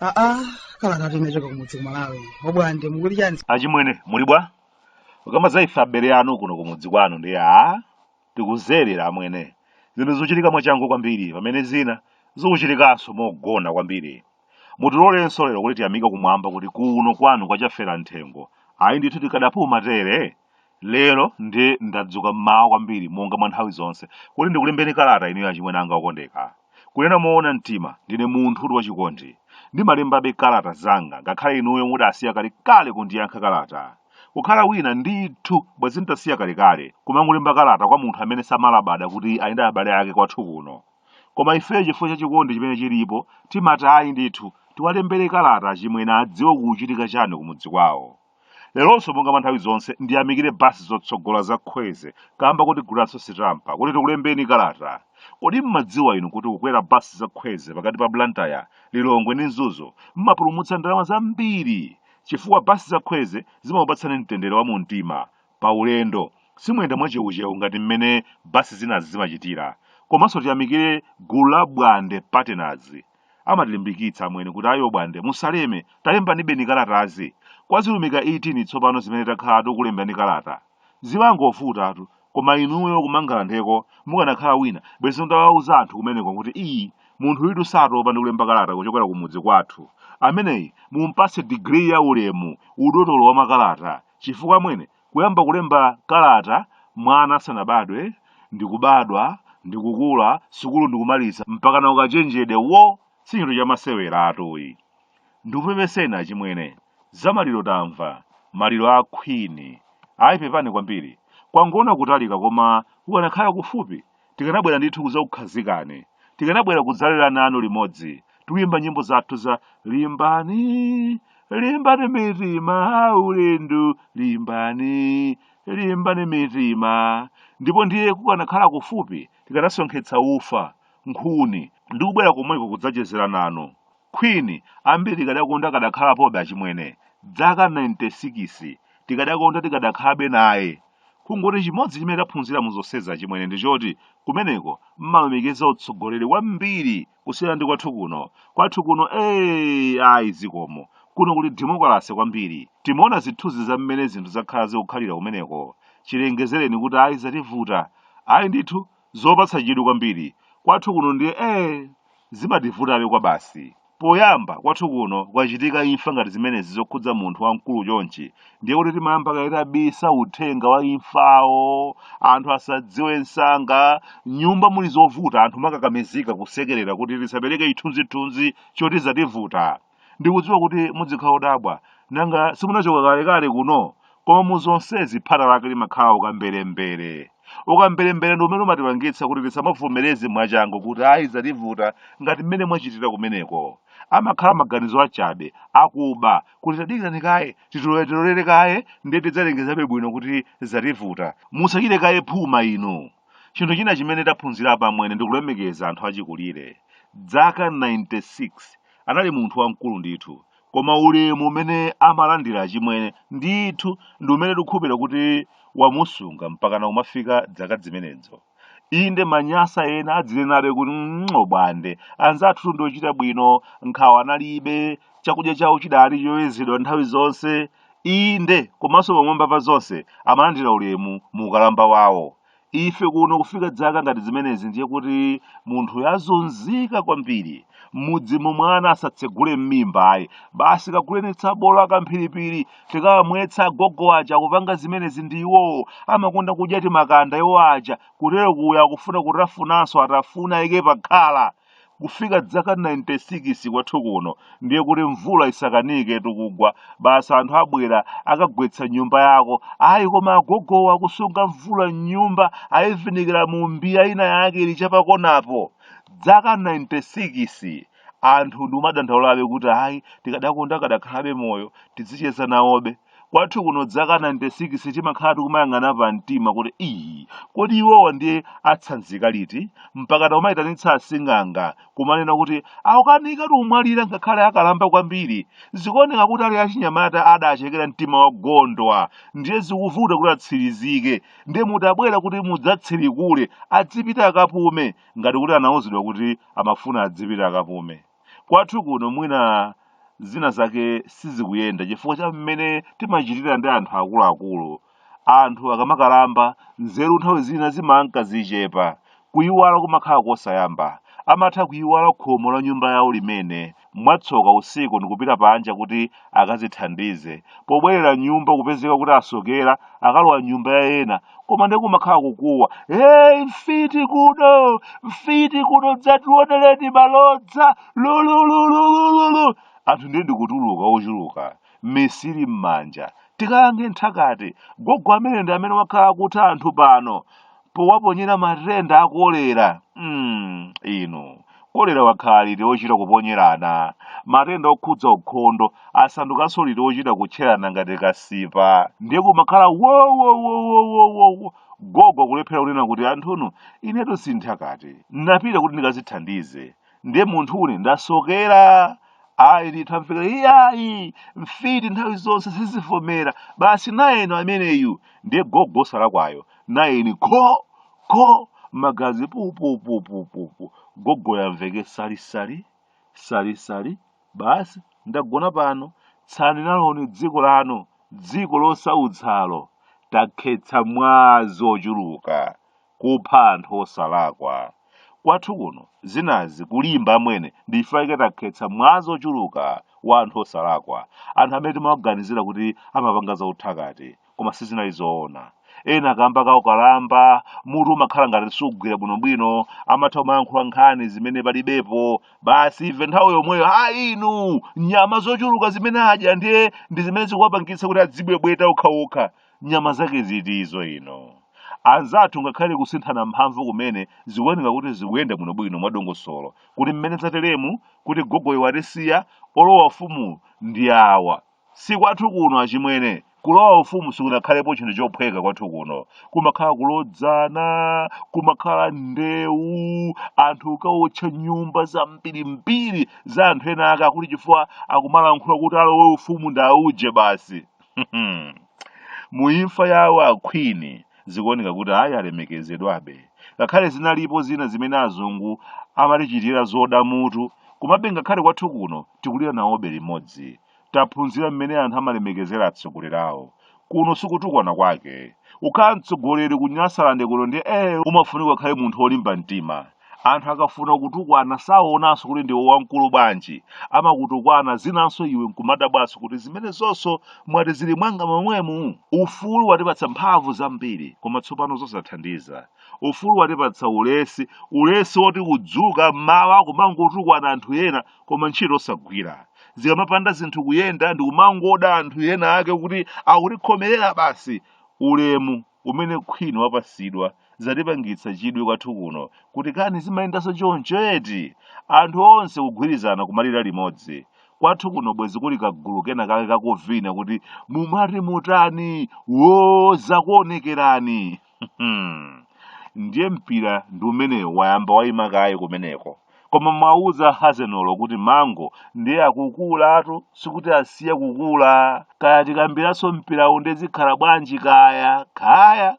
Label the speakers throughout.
Speaker 1: aa kalata tu inachoka kumudzi kuMalawi Bwande mukuti chani achimwene muli bwa
Speaker 2: ukamba za ife abale anu kuno kumudzi kwanu ndi a tikudzerera amwene zinthu zikuchitika mwachangu kwambiri pamene zina zikuchitikanso mogona kwambiri mutilolenso lero kuti tiyamike kumwamba kuti kuno kwanu kwachafera nthengo ayi ndithu tikadapuma tere lero ndi ndadzuka mmawa kwambiri monga mwa nthawi zonse kuti ndikulembeni kalata inuyo achimwene anga okondeka kunena moona mtima ndine munthu kuti wachikondi ndimalembabe kalata zanga ngakhale inuyo mudasiya kalekale kundiyankha kalata Kukhala wina, ndithu, bwenzi n'tasiya kalekale kumangolemba kalata kwa munthu amene samalabada kuti ali ndi abale ake kwathu kuno. Koma ifeyo chifukwa cha chikondi chimene chilipo, timati ayi ndithu, tiwalembere kalata achimwene adziwe kukuchitika chani kumudzi kwawo. Leronso monga mwa nthawi zonse ndiyamikire bus zotsogola za Khweze kamba kotigulira'nso sitampa kuti tikulembeni kalata. Kodi m'madziwa inu kuti kukwera bus za Khweze pakati pa Blantyre, Lilongwe ndi Mzuzu m'mapulumutsa ndalama zambiri chifukwa basi za khweze zimakupatsani mtendere wa mu mtima pa ulendo simuyenda mwachewuchewu ngati mmene basi zinazi zimachitira komanso tiyamikire gulu la bwande partners amatilimbikitsa amwene kuti ayo bwande musaleme talembanibeni kalatazi kwa zilumika 18 tsopano zimene takhala tikulembani kalata Zimangovutatu koma inuyo kumangalandeko mukanakhala wina bwezi mutawauza anthu kumeneko kuti ii munthuyitu satopa ndi kulemba kalata kuchokera kumudzi kwathu ameneyi mumpatse degree ya ulemu udotolo wa makalata chifukwa amwene kuyamba kulemba kalata mwana asanabadwe ndikubadwa ndikukula sukulu ndikumaliza mpaka na ukachenjedewo sichinthu chamaseweratu ayi ndikupepeseni achimwene Za maliro tamva, maliro a Queen. Ayi pepani kwambiri. Kwangoona kutalika koma kukanakhala kufupi tikanabwera ndithu kudzakukhazikani. Tikanabwera kudzalira nanu limodzi. Tikuyimba nyimbo zathu za limbani, limbani mitima ulendo, limbani, limbani mitima. Ndipo ndiye kukanakhala kufupi tikanasonkhetsa ufa, nkhuni ndi kubwera komweko kudzachezera nanu. Queen ambiri tikadakonda akadakhalapobe achimwene dzaka 96 tikadakonda tikadakhalabe naye kungoti chimodzi chimene taphunzira muzonsezi achimwene ndichoti kumeneko mmalemekeza utsogoleri kwambiri kusiyana ndi kwathu kuno kwathu kuno ee ayi zikomo kuno kuli demokalase kwambiri timaona zithunzi za mmene zinthu zakhala zikukhalira kumeneko chilengezereni kuti ayi zativuta ayi ndithu Zopatsa chidwi kwambiri. Kwathu kuno ndiye ee! Zimativutabe kwabasi. Poyamba, kwathu kuno kukachitika imfa ngati zimenezi zokhudza munthu wamkulu chonchi, ndiye kuti timayamba kaye tabisa uthenga wa imfawo, anthu asadziwe msanga, m'nyumba muli zovuta anthu mumakakamizika kusekerera kuti tisapereke chithunzithunzi choti zativuta. Ndikudziwa kuti mudzikhala odabwa, nanga simunachoka kalekale kuno? Koma mu zonsezi phata lake limakhala ukamberembere. Ukamberembere ndi umene umatipangitsa kuti tisamavomereze mwachangu kuti ayi zativuta ngati mmene mwachitira kumeneko. Amakhala maganizo achabe, akuba, kuti tadikirani kaye, titoleretolere kaye ndiye tidzalengezabe bwino kuti zativuta. Musachite kaye phuma inu. Chinthu china chimene taphunzira apa amwene ndi kulemekeza anthu achikulire. Dzaka 96. anali munthu wamkulu ndithu koma ulemu umene amalandira achimwene ndithu ndi umene tikukhulupirira kuti wamusunga mpakana kumafika dzaka zimenezo inde Amanyasa ena adzinenabe kuti o Bwande anzathu ndi ochita bwino nkhawa analibe chakudya chawo chidali choyezedwa nthawi zonse inde komanso pamwamba pa zonse amalandira ulemu mu ukalamba wawo Ife kuno kufika dzaka ngati zimenezi ndiye kuti munthuyo azunzika kwambiri. M'mudzimo mwana asatsegule m'mimba ayi. Basi kaguleni tsabola wa kamphiripiri tikawamwetse agogo aja akupanga zimenezi ndi iwowo. Amakonda kudya timakanda iwo aja. Kutero kuja akufuna kutafunanso Atafuna Ayike pakhala. kufika dzaka 96 kwathu kuno ndiye kuti mvula isakaniketu kugwa basi anthu abwera akagwetse nyumba yako ayi koma agogowo akusunga mvula mnyumba ayivinikira mu mbiya ina yake ili chapakonapo dzaka 96 anthu ndikumadandaulabe kuti ayi tikadakonda akadakhalabe moyo tizicheza nawobe kwathu kuno dzaka 96 timakhala tikumayang'ana pa mtima kuti ii kodi iwowa ndiye atsanzika liti mpaka kumayitanitsa asing'anga kumanena kuti akukanikatu kumwalira ngakhale akalamba kwambiri zikuoneka kuti ali achinyamata adachekera mtima wa gondwa ndiye zikuvuta kuti atsirizike ndiye mutabwera kuti mudzatsirikule adzipita akapume ngati kuti anauzidwa kuti amafuna adzipita akapume Kwathu kuno mwina zina zake sizikuyenda chifukwa cha mmene timachitira ndi anthu akuluakulu. Anthu akamakalamba nzeru nthawi zina zimanka zichepa. Kuyiwala kumakhala kosayamba. Amatha kuyiwala khomo la nyumba yawo limene mwatsoka usiku ndikupita panja kuti akazithandize pobwerera m'nyumba kupezeka kuti asokera akalowa m'nyumba ya ena koma ndiye kumakhala kukuwa hey, mfiti kuno mfiti kuno dzationereni malodza lulululululu anthu ndiye ndikutuluka ochuluka misiri m'manja tikalange nthakati gogo amene ndi amene wakhala akutha anthu pano powaponyera matenda a kolera mm, inu kolera wakhala liti ochita kuponyerana matenda okhudza ukhondo asandukanso liti ochita kutcherana ngati kasipa ndiye kumakhala wowowowowowo gogo kulephera kunena kuti anthunu inetu sinthakati napita kuti ndikazithandize ndiye munthune ndasokera ayi ndithu amvekera iyayi mfiti nthawi zonse sizivomera basi nayeni ameneyu ndiye gogo salakwayo nayeni kho kho magazi pupupupupupu gogo yamveke salisali salisali basi ndagona pano tsalani naloni dziko lanu dziko losautsalo takhetsa mwazi ochuluka kupha anthu osalakwa. Kwathu kuno zinazi kulimba amwene ndife ife takhetsa mwazi ochuluka wa anthu osalakwa, anthu amene timawaganizira kuti amapanga za uthakati koma sizinali zoona. Ena kamba ka ukalamba, mutu umakhala ngati sukugwira bwinobwino, amatha kumayankhula nkhani zimene palibepo, basi ife nthawi yomweyo ha inu nyama zochuluka zimene adya ndiye ndi zimene zikuwapangitsa kuti adzibwebweta okhaokha. nyama zake ziti izo ino anzathu ngakhale kusinthana mphamvu kumene zikuoneka kuti zikuyenda bwinobwino mwadongosolo kuti mmene zateremu kuti gogoyo watisiya olowa ufumu ndi awa si kwathu kuno achimwene kulowa ufumu sikunakhalepo chinthu chophweka kwathu kuno kumakhala kulodzana kumakhala ndewu anthu kukawotcha nyumba zambirimbiri za anthu ena ake akuti chifukwa akumalankhula kuti alowe ufumu ndauje basi Hmm. mu imfa yawo a Queen zikuoneka kuti ayi alemekezedwabe ngakhale zinalipo zina zimene azungu amatichitira zoda mutu komabe ngakhale kwathu kuno tikulira nawobe limodzi taphunzira mmene anthu amalemekezera atsogoleri awo kuno sikutukwana kwake ukhala mtsogoleri ku nyasalande kuno ndiye umafunika ukhale munthu wolimba mtima Anthu akafuna kukutukwana saonanso kuti ndiwe wamkulu bwanji, amakutukwana zinanso iwe nkumadabwanso kuti zimenezonso mwati zili mwanga momwemu? Ufulu watipatsa mphamvu zambiri koma tsopano zosathandiza. Ufulu watipatsa ulesi, ulesi woti kudzuka m'mawa kumangotukwana anthu ena koma ntchito osagwira. Zikamapanda zinthu kuyenda ndi kumangoda anthu ena ake kuti akutikhomerera basi. Ulemu umene Queen wapatsidwa zatipangitsa chidwi kwathu kuno kuti kani zimayendanso choncho eti? Anthu onse kugwirizana kumalira limodzi. Kwathu kuno bwezi kuli kagulu kena kake kakuvina kuti mumati mutani woo zakuonekerani. Ndiye mpira ndi umenewo wayamba waima kaye kumeneko. koma mwauza hazenolo kuti mango ndiye akukulatu sikuti asiya kukula kaya tikambiranso mpirawu nde zikhala bwanji kaya kaya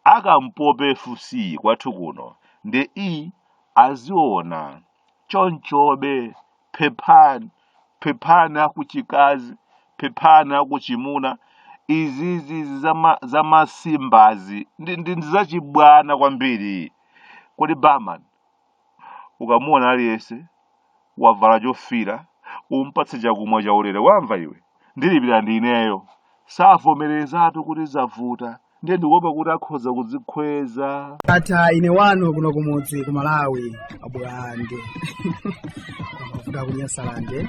Speaker 2: akampope fc kwathu kuno nde i aziona chonchobe phephani phephani akuchikazi phephani akuchimuna izizi zama- zamasimbazi ndi ndi- ndi zachibwana kwambiri kodi barman ukamuona aliyense wavala chofira umpatse chakumwa chaulere wamva iwe ndilipira ndi ineyo savomerezatu kuti zavuta ndiye ndikuopa kuti akhoza kudzikhweza ndatha
Speaker 1: ine wanu kuno kumudzi ku malawi abwande kuda kunyasalande